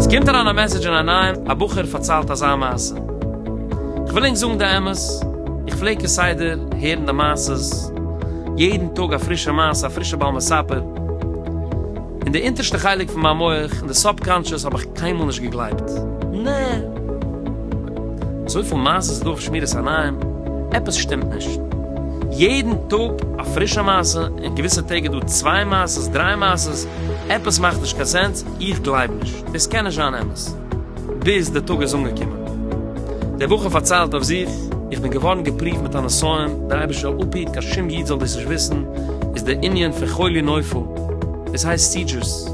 עס קומט אריין א מעסעדזש אין א נייעם, א בחור פארציילט אזא מעשה. איך וויל ענק זאגן די אמת, איך פלעג כסדר הערן די מעשות, יעדן טאג א פרישע מעשה, א פרישע בעל מספר. אין די אונטערשטע חלק פון מיין מח, אין די סאבקאנטשעס, האב איך קיינמאל נישט געגלייבט. נע! אזויפיל מעשה איז דא אויף שמירת עיניים, עפעס שטימט נישט. יעדן טאג א פרישע מעשה, און געוויסע טעג איז דא צוויי מעשות, דריי מעשות, עפעס מאכט נישט קיין סענס, איך גלייב נישט, דאס קען נישט זיין אמת. ביז דער טאג איז אנגעקומען. דער בחור פארציילט אויף זיך, איך בין געווארן געפריווט מיט א נסיון, דער אייבערשטער זאל אפהיט קיין שום איד זאל דאס נישט וויסן, איז דער ענין פון חולי נופל, דאס הייסט סידזשערס.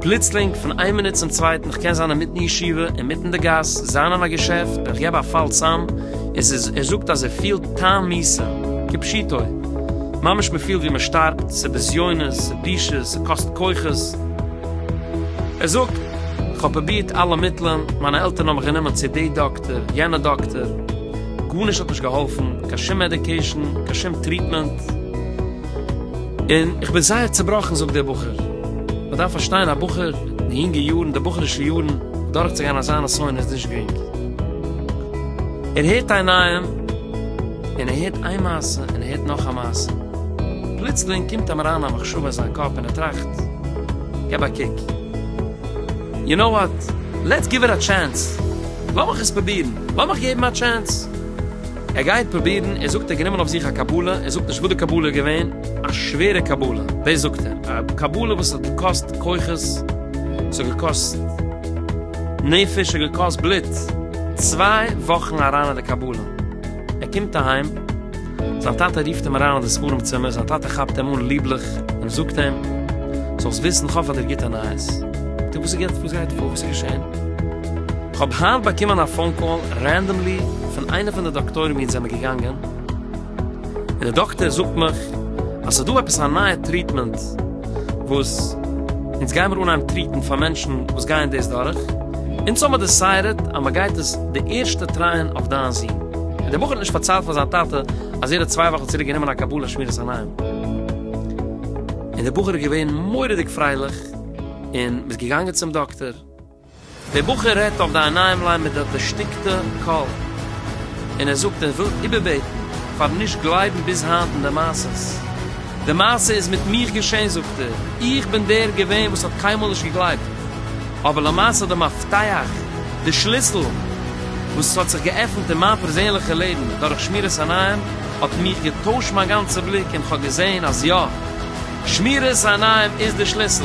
פלוצלינג פון איין מינוט צום צווייטן, כ'קען זיין אינמיטן ישיבה, אינמיטן די גאס, זיין אין א געשעפט, און כ'געב א פאל צאם, און ס'איז, ער זאגט אז ער פילט טעם מיתה, כפשוטו. ממש מ'פילט ווי מ'שטארבט, ס'בזיונות, ס'בושות, ס'קאסט כוחות. ער זאגט. כ'האב פרובירט אלע מיטלען, מיינע עלטערן האבן מיך גענומען צו די דאקטער, יענע דאקטער, גארנישט האט נישט געהאלפן, קיין שום מעדיקעישן, קיין שום טריטמענט, און איך בין זייער צובראכן, זאגט דער בחור, מען דארף פארשטיין, א בחור אין די יונגע יארן, די בחור'ישע יארן, דורכצוגיין אזא נסיון איז נישט גרינג, ער הערט איין נייעם, און ער הערט איין מעשה, און ער הערט נאך א מעשה, פלוצלינג קומט אים אריין א מחשבה אין זיין קאפ און ער טראכט, געב א קוק. יו נאו וואט, לעטס גיוו איט א טשענס, לאמיך עס פרובירן, לאמיך געבן א טשענס. ער גייט פרובירן, ער זאגט ער האט גענומען אויף זיך א קבלה, ער זאגט נישט וואס די קבלה איז געווען, א שווערע קבלה, דאס זאגט ער, א קבלה וואס האט געקאסט כוחות, ס'האט געקאסט נפש, ס'האט געקאסט בלוט, צוויי וואכן אריין אין די קבלה. ער קומט אהיים, זיין טאטע רופט אים אריין אין די ספרים צימער, זיין טאטע כאפט אים אן ליבליך און זאגט אים, זאלסט וויסן, איך האב פאר דיר גוטע נייעס. טא וואס איז גוט? וואס גייט פאר? וואס איז געשען? כ'האב היינט באקומען א פאון קאל רענדאמלי פון איינע פון די דאקטוירים ווי אונז זעמיר געגאנגען, און די דאקטער זאגט מיך אז ס'איז דא עפעס א נייע טריטמענט, וואס אונז גיימער אנהייבן טריטן פאר מענטשן וואס גייען דאס דורך, אונז האבן דעסיידעט אז מען גייט עס די ערשטע טרייען אויף דיין זון, און דער בחור האט נישט פארציילט פאר זיין טאטע אז ער האט צוויי וואכן צוריק גענומען א קבלה שמירת עיניים, און דער בחור איז געווען מורא'דיג פרייליך און מ'איז געגאנגען צום דאקטער. דער בחור רעדט אויף די עיניים ליין מיט די דערשטיקטע קול, און ער זאגט ער וויל איבערבעטן פארן נישט גלייבן ביז היינט אין די מעשות. די מעשה איז מיט מיך געשען זאגט ער, איך בין דער געווען וואס האט קיינמאל נישט געגלייבט, אבער למעשה די מפתח, די שליסל, וואס עס האט זיך געעפנט אין מיין פערזענליכע לעבן דורך שמירת עיניים, האט מיך געטוישט מיין גאנצע בליק און כ'האב געזען אז יא, שמירת עיניים איז די שליסל.